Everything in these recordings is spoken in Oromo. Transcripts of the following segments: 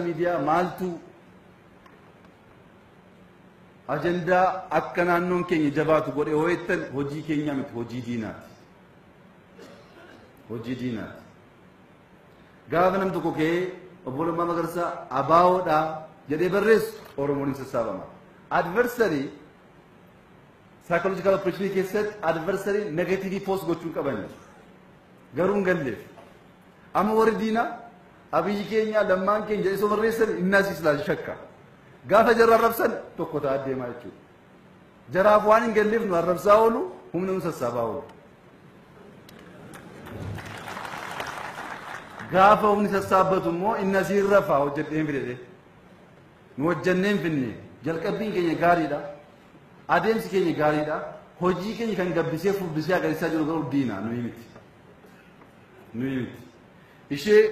miidiyaa maaltu ajandaa akka naannoon keenya jabaatu godhe yoo jettan hojii keenya miti hojii diinaati. Hojii diinaati. Gaafa nam tokko ka'ee obbo Lammaa Magarsaa abaawoodha jedhee barreessu Oromoon hin sassaabama. Adversarii psychological operation keessatti adversarii negative post gochuun qabani. Garuu hin galleef. Amma warri diinaa Abiyyi keenyaa lammaan keenya jedhee osoo barreessani innaas islaal shakka. Gaafa jarra arrabsan tokko ta'a deemaa jechuudha. Jaraaf waan hin galleef nu arrabsaa oolu humna nu sassaabaa oolu. Gaafa humni sassaabbatu immoo inni asiin rafaa hojjedheen fidedhe. Nu hojjenneen finne jalqabbiin keenya gaariidha. Adeemsi keenya gaariidha. Hojii keenya kan gabbisee furdisee agarsiisaa jiru garuu diina nuyi miti. Nuyi miti. Ishee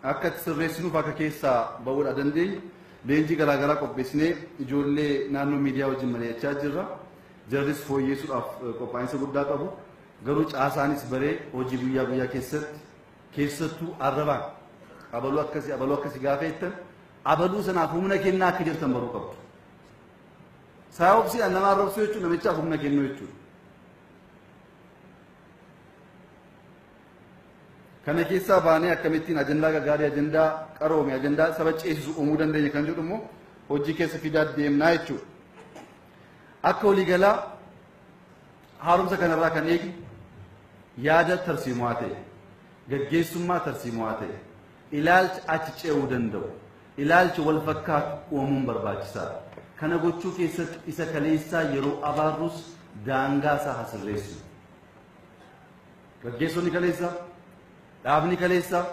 akka itti sirreessinuuf akka keessaa ba'uudha dandeenyu leenjii garaa garaa qopheessinee ijoollee naannoo miidiyaa wajjin mari'achaa jirra. Jarris fooyyeessuudhaaf qophaa'insa guddaa qabu. Garuu caasaanis baree hojii guyyaa guyyaa keessatti keessattuu arrabaan abaluu akkasii abaluu akkasii gaafa jettan abaluu sanaaf humna kennaa akka jirtan baruu qabdu. Saayobsiidhaan nama arrabsuu jechuun namichaaf humna kennuu jechuudha. Kana keessaa baanee akkamittiin ajandaa gaggaarii, ajandaa qaroome, ajandaa saba ceesisu uumuu dandeenya kan jedhu immoo hojii keessa fidaa deemnaa jechuudha. Akka waliigalaa haaromsa kanarraa kan eegi yaada tarsiimaa ta'e, gaggeessummaa tarsiimaa ta'e, ilaalcha achi ce'uu danda'u, ilaalcha wal fakkaatu uumuun barbaachisaadha. Kana gochuu keessatti isa kaleessaa yeroo abaarrus daangaa isaa hasirreessu. Gaggeessonni kaleessaa, dhaabni kaleessaa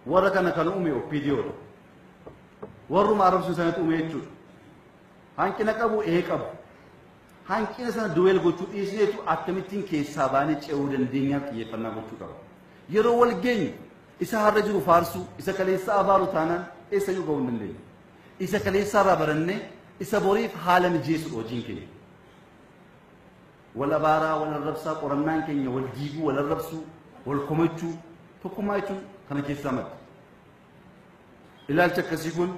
warra kana kan uume OPDO dha. Warruma arrabsu sanatu uume jechuudha. Hanqina qabu ee qabu. Hanqina sana duweel gochuu dhiisneetu akkamittiin keessaa baanee ce'uu dandeenyaaf xiyyeeffannaa gochuu qaba. Yeroo wal geenyu isa har'a jiru faarsuu, isa kaleessaa abaaru taanaan eessa iyyuu ga'uu hin dandeenyu. Isa kaleessaa irraa barannee isa boriif haala mijeessuudha hojiin keenya. Wal abaaraa, wal arrabsaa, qorannaan keenya wal jiibuu, wal arrabsuu, wal komachuu, tokkummaa jechuun kana keessaa madda. Ilaalchi akkasii kun.